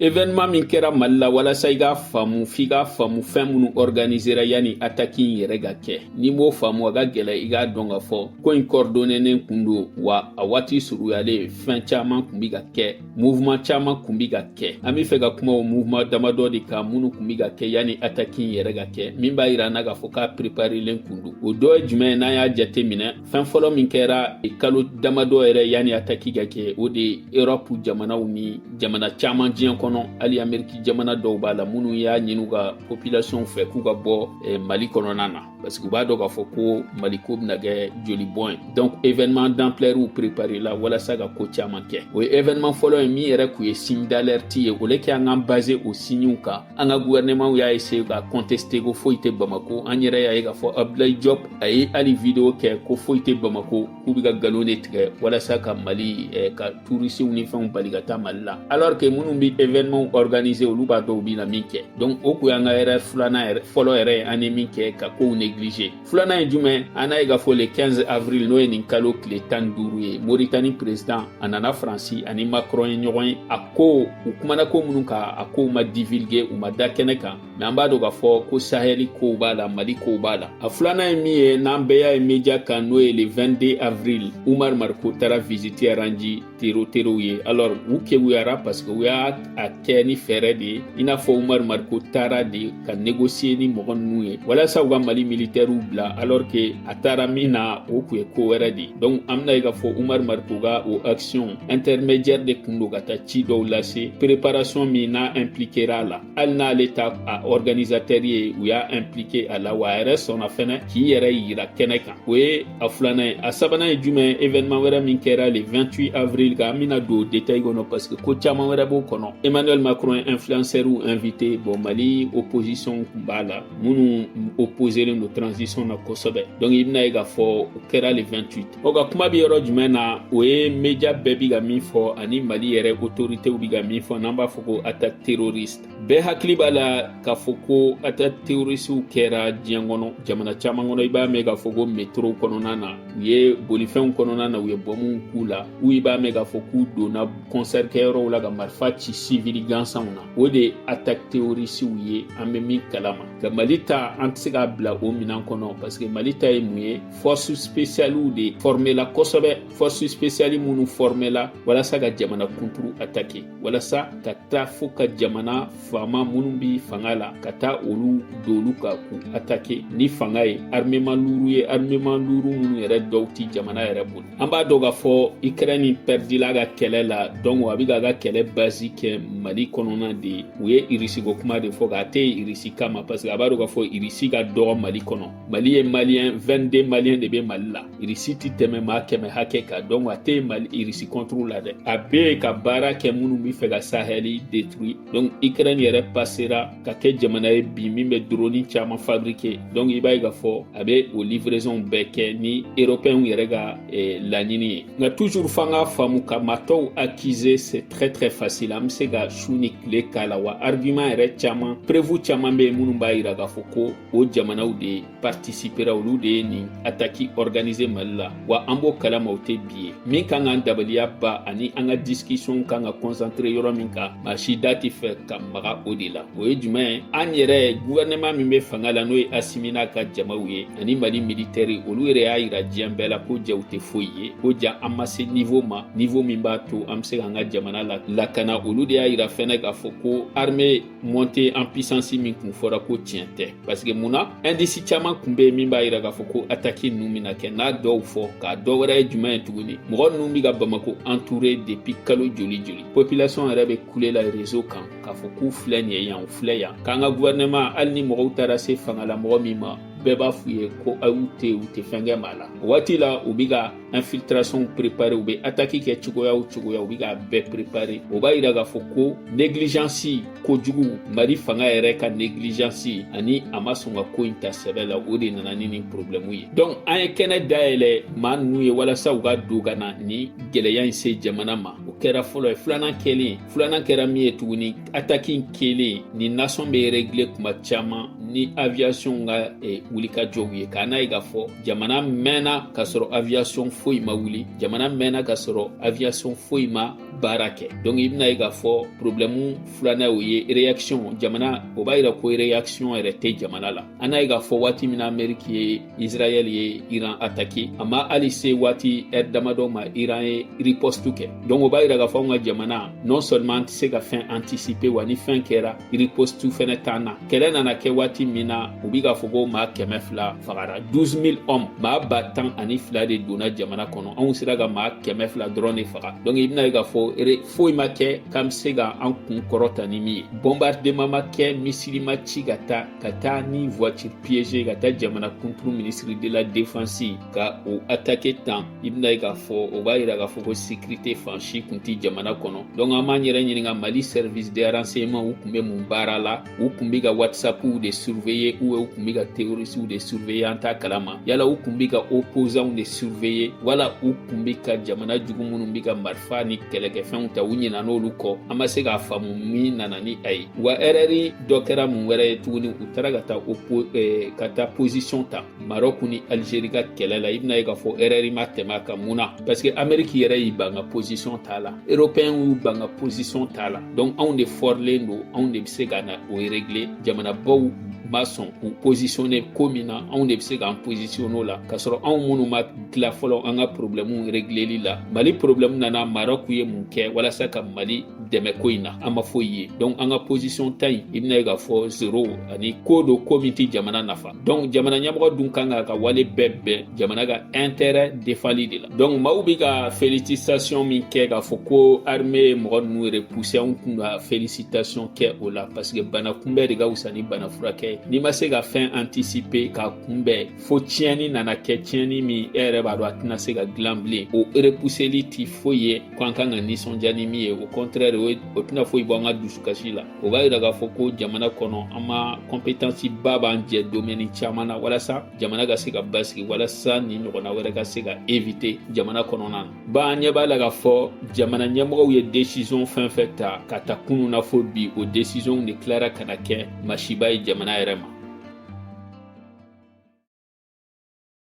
Evenɛman min kɛra mali la walasa i k'a faamu f'i k'a faamu fɛn minnu organisera yanni ataki in yɛrɛ ka kɛ n'i m'o faamu a ka gɛlɛ i k'a dɔn ka fɔ ko in kɔridɔnenen kun don wa a waati suruyalen fɛn caman kun bi ka kɛ muvuma caman kun bi ka kɛ an b'a fɛ ka kuma o muvuma damadɔ de kan minnu kun bi ka kɛ yanni ataki in yɛrɛ ka kɛ min b'a yira an na k'a fɔ k'a preparelen kun don o dɔ ye jumɛn ye n'an y'a jate minɛ fɛn fɔlɔ min kɛra kalo damadɔ yɛrɛ yanni ataki ka kɛ o de ye erɔpu jamanaw ni jamana caman diɲɛ kɔnɔ hali ameriki jamana dɔw b'a la minnu y'a ɲini u ka popilasiyɔn fɛ k'u ka bɔ eh, mali kɔnɔna na parce que u b'a dɔn k'a fɔ ko mali ko bɛna kɛ joli bɔn ye donc événement d'amplɛriw préparela walasa ka ko caman kɛ o ye événement fɔlɔ ye min yɛrɛ kun ye signe d'alerte ye au lieu que an k'an base o siɲiw kan an ka gouvernement y'a essaye k'a contester ko foyi tɛ Bamako an yɛrɛ y'a ye k'a fɔ Abdoulaye Diop a ye hali video kɛ ko foyi tɛ Bamako k'u bɛ ka nkalon de tigɛ walasa ka Mali eh, ka touristes ni fɛnw bali ka taa Mali la alors que minnu bɛ événement organiser olu b'a dɔn u bɛna min kɛ donc o kun y'an ka erreur filanan yɛrɛ fɔlɔ yɛrɛ ye an ye min kɛ ka kow négliger filanan ye jumɛn an n'a ye k'a fɔ le 15 avril n'o ye nin kalo tile tan duuru ye moritani president a nana faransi a ni macron ye ɲɔgɔn ye a ko u kumana ko minnu kan a kow ma divulgue u ma da kɛnɛ kan mɛ an b'a dɔn k'a fɔ ko sahɛli kow b'a la mali kow b'a la a filanan ye min ye n'an bɛɛ y'a ye media kan n'o ye le 22 avril umaru mariko taara visite rendre tero terow ye alors u keguyara parce que u y'a a kɛ ni fɛɛrɛ de ye i n'a fɔ umaru mariko taara de ka negosiye ni mɔgɔ ninnu ye walasa u ka mali militɛriw bila alors que a taara min na o kun ye ko wɛrɛ de donc an bɛn'a ye k'a fɔ umaru mariko ka o action intermédiaire de kun don ka taa ci dɔw lase préparation min n'a impliquera a la hali n'ale t'a organisatɛri ye u y'a implike a la wa a yɛrɛ sɔnna fɛnɛ k'i yɛrɛ yira kɛnɛ kan o ye a filanan ye a sabanan ye jumɛn evenɛman wɛrɛ min kɛra le 28 avril kan an bɛna don detail kɔnɔ parce que ko caaman wɛrɛ b'o kɔnɔ emmanuel macron ye influencɛriw invité bon mali opposition kun b'a la minnu opposelen don transition na kosɛbɛ donc i bɛn'a ye k'a fɔ o kɛra le 28 o ka kuma bɛ yɔrɔ jumɛn na o ye mediya bɛɛ bi ka min fɔ ani mali yɛrɛ otoritew bi ka min fɔ n'an b'a fɔ ko ataki teroriste bɛɛ hakili b'a la k'a fɔ ko ataki terorisiw kɛra diɲɛ kɔnɔ jamana caman kɔnɔ i b'a mɛn k'a fɔ ko metrow kɔnɔna na u ye bolifɛnw kɔnɔna na u ye bɔmuw k'u la ou i b'a mɛn k'a fɔ k'u donna kɔnsɛri kɛyɔrɔw la ka marifa ci sivili gansanw na o de ye ataki terorisiw ye an bɛ min kalama nka mali ta an tɛ se k'a bila o minan kɔnɔ paseke mali ta ye mun ye fɔsu spesiyaliw de fɔrmela kosɛbɛ fɔsu spesiyali minnu fɔrmela walasa ka jamana kunturu atake walasa ka taa fo ka jamana faama minnu bi fanga la ka taa olu dolu ka k'u atake ni fanga ye armeman luru ye armeman luru minnu yɛrɛ dɔw ti jamana yɛrɛ bolo an b'a dɔn k'a fɔ ikrɛni pɛridila a ka kɛlɛ la dɔnku a bi k'a ka kɛlɛ bazi kɛ mali kɔnɔna de ye u ye irisi ko kuma de fɔ k'a tɛ irisi kama paseke a b'a dɔn k'a fɔ irisi ka dɔgɔ mali kɔnɔ mali ye maliyɛn 22 maliyɛn de bɛ mali la irisi ti tɛmɛ maa kɛmɛ hakɛ kan donc a tɛ mali irisi kɔnturu la dɛ a bɛ ka baara kɛ minnu bɛ fɛ ka sahɛli détruire donc ukraine yɛrɛ pasera ka kɛ jamana ye bi min bɛ droni caman fabriquer donc i b'a ye k'a fɔ a bɛ o livraison bɛɛ kɛ ni européens yɛrɛ ka eh, laɲini ye nka toujours f'an k'a faamu ka maa tɔw accuser c'est très très facile an bɛ se ka su ni tile k'a la wa argument yɛrɛ caman preuve caman bɛ yen minnu b'a yira k'a fɔ ko o jamanaw de partisipera olu de ye nin ataki organise mali la wa an b'o kalama o tɛ bi ye min kan k'an dabaliya ban ani an ka disikisiyɔn kan ka kɔnsantere yɔrɔ min kan maa si da tɛ fɛ ka maga o de la o ye jumɛn ye an yɛrɛ guvɛrɛnɛman min bɛ fanga la n'o ye asimi n'a ka jamaw ye ani mali militɛri olu yɛrɛ y'a yira diɲɛ bɛɛ la ko ja u tɛ foyi ye ko ja an ma se nivo ma nivo min b'a to an bɛ se k'an ka jamana lakana olu de y'a yira fɛnɛ k'a fɔ ko arme monte an pisansi min kun fɔra ko tiɲɛ tɛ paseke mun na ɛndisi caaman kun be yen min b'a yira k'a fɔ ko ataki nunu bina kɛ n'a dɔw fɔ k'a dɔ wɛrɛ ye juman ye tuguni mɔgɔ nunu be ka bamako anture depi kalo joli joli popilasɔn yɛrɛ be kule la rezo kan k'a fɔ k'u filɛ nin ye yan u filɛ yan k'an ka guvɛrɛnɛman hali ni mɔgɔw taara se fanga la mɔgɔ min ma bɛɛ b'a f'u ye ko ayi u te u te fɛn kɛ maa la o waati la u be ka infiltration préparer u bɛ ataki kɛ cogoya o cogoya u bɛ k'a bɛɛ préparer o b'a yira k'a fɔ ko négligence kojugu mali fanga yɛrɛ ka négligence ani a ma sɔn ka ko in ta sɛbɛ la o de nana ni nin problème ye donc an ye kɛnɛ dayɛlɛ maa ninnu ye walasa u ka don ka na ni gɛlɛya in se jamana ma o kɛra fɔlɔ ye filanan kɛlen filanan kɛra min ye tuguni ataki in kɛlen nin nasɔn bɛ rɛgile kuma caman ni aviyasɔn ka e, wulikajɔw ye nk'an n'a ye k'a fɔ jamana mɛnna k'a sɔrɔ aviyasɔn foyi ma wuli jamana mɛnna k'a sɔrɔ aviyasɔn foyi ma baara kɛ donc i bɛna ye k'a fɔ problɛmu filanan o ye reyakisiyɔn jamana o b'a yira ko reyakisiyɔn yɛrɛ tɛ jamana la an n'a ye k'a fɔ waati min na ameriki ye israɛl ye iran atake a ma hali se waati ɛri damadɔ ma iran ye ripostu kɛ donk o b'a yira k'a fɔ anw ka jamana non seulement an tɛ se ka fɛn antisipe wa ni fɛn kɛra ripostu fɛnɛ t'an na kɛlɛ nana kɛ waati min na u bi k'a fɔ ko maa kɛmɛ fila fagara 12000 hommes maa ba tan ani fila de donna jamana kɔnɔ anw sera ka maa kɛmɛ fila dɔrɔn de faga donk i bɛna ye k'a fɔ ere foyi ma kɛ k'an be se ka an kun kɔrɔta ni min ye bɔnbardeman ma kɛ misili ma ci ka taa ka taa ni voiture piégée ka taa jamana kunturu ministre de la défense ka o atake tan i bɛna ye k'a fɔ o b'a yira k'a fɔ ko sécurité fansi kun tɛ jamana kɔnɔ donc an b'an yɛrɛ ɲininka mali service de renseignement u kun bɛ mun baara la u kun bɛ ka whatsappiw de surveiller ou u kun bɛ ka terroristiw de surveiller an t'a kalama yala u kun bɛ ka opposants de surveiller wala u kun bɛ ka jamana jugu minnu bɛ ka marifa ni kɛlɛkɛfɛnw ta u ɲinan'olu kɔ an ma se k'a faamu min nana ni a ye wa erɛri dɔ kɛra mun wɛrɛ ye tuguni u taara ka taa o eh, ka taa position ta marɔku ni alizeri ka kɛlɛ la i bɛna ye k'a fɔ erɛri ma tɛmɛ a kan mun na parce que ameriki yɛrɛ y'i ban ka position t'a la européen y'u ban ka position t'a la donc anw de fɔrilen don anw de bɛ se ka na o régler jamanabaw ma sɔn k'u positionne ko min na anw de bɛ se k'an positionne o la k'a sɔrɔ anw minnu ma tila fɔlɔ an ka problɛmu regleli la mali problɛmu nana marɔku ye mun kɛ walasa ka mali dɛmɛ ko in na an ma foyi ye donc an ka position ta in i bɛna ye k'a fɔ zero ani ko don ko min tɛ jamana nafa donc jamana ɲɛmɔgɔ dun kan k'a ka wale bɛɛ bɛn jamana ka intérêt defali de la donc maaw bɛ ka félicitation min kɛ k'a fɔ ko armée ye mɔgɔ ninnu repousser anw kun ka félicitation kɛ o la parce que bana kunbɛn de ka wusa ni bana furakɛ n'i ma se ka fɛn anticiper k'a kunbɛn fo tiɲɛni nana kɛ tiɲɛni min e yɛrɛ b'a dɔn a tɛna se ka dilan bilen o repuseli ti foyi ye ko an kan ka nisɔndiya ni min ye o kɔntrɛri o tɛna foyi bɔ an ka dusukasi la o b'a yira k'a fɔ ko jamana kɔnɔ an ma kɔnpetansi ba b'an jɛ domɛni caman na walasa jamana ka se ka basigi walasa nin ɲɔgɔnna wɛrɛ ka se ka evite jamana kɔnɔna na Ba an ɲɛ b'a la k'a fɔ jamana ɲɛmɔgɔw ye desizɔn fɛn fɛn ta ka ta kunun na fo bi o desizɔnw de tilara ka na kɛ masiba ye jamana yɛrɛ ma